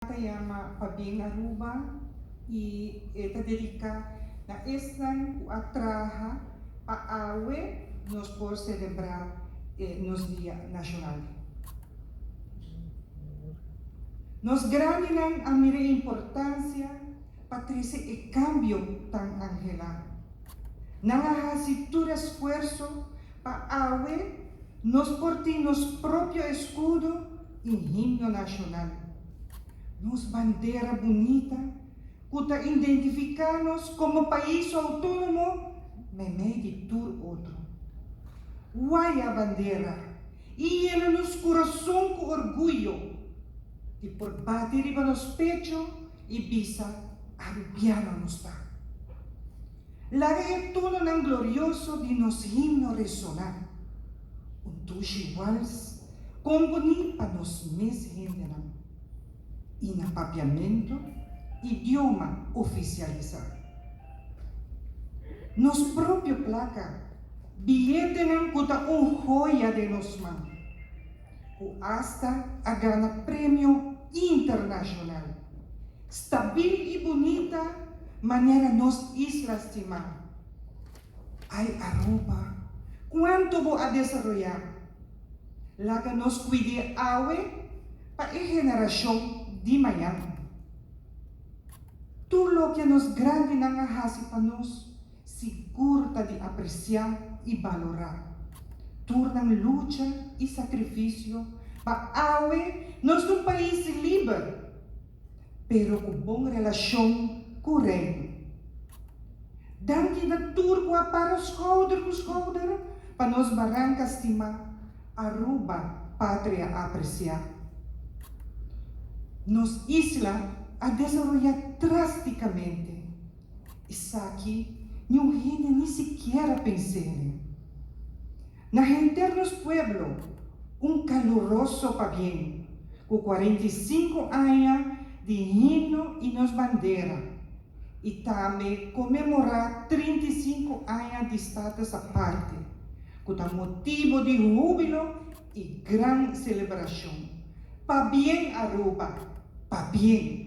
ta yama pa bin Aruba y e ta dedica na esnan cu a traha pa awe nos por celebra e nos dia nacional. Nos grandinan a mira e importancia pa trece e cambio tan angela. Nan a haci tur esfuerso Pa awe, nos por tin nos propio escudo y himno nacional. Nos bandera bunita, cu ta indentifica nos como pais autonomo memey di tur otro. Guaya bandera y yena nos curason cu orguyo y por bati riba nos pecho, I bisa, Arupiana nos ta. Laga e tononan glorioso di nos himno resoná. Un tushi wals komponí pa nos mes hendenan. I na papiamentu, idioma ofisialisá. Nos propio plaka, biyetenan ku ta un hoya den nos man. ku asta a gana premio internashonal. Stabil i bunita manera nos isla stima. Ai Aruba, kuantu bo a desaroyá! Laga nos kuid'é awe pa e generashon di mañan. Tur loke nos grandinan a hasi pa nos. Sigur ta di apresiá i balorá tur nan lucha i sakrifisio pa awe nos ta un pais liber, pero ku bon relashon ku Reino. Danki na tur ku a para skouder ku skouder pa nos baranka stimá, Aruba patria apresiá. Nos isla a desaroyá drástikamente. Esaki niun hende ni sikier a pens'é n'e. Na henter nos pueblo un kaluroso pabién, ku kuarenta i sinku aña di himno i nos bandera, i tambe komemorá trinta i sinku aña di Status Aparte, ku ta motibu di húbilo i gran selebrashon. Pabién Aruba! Pabién!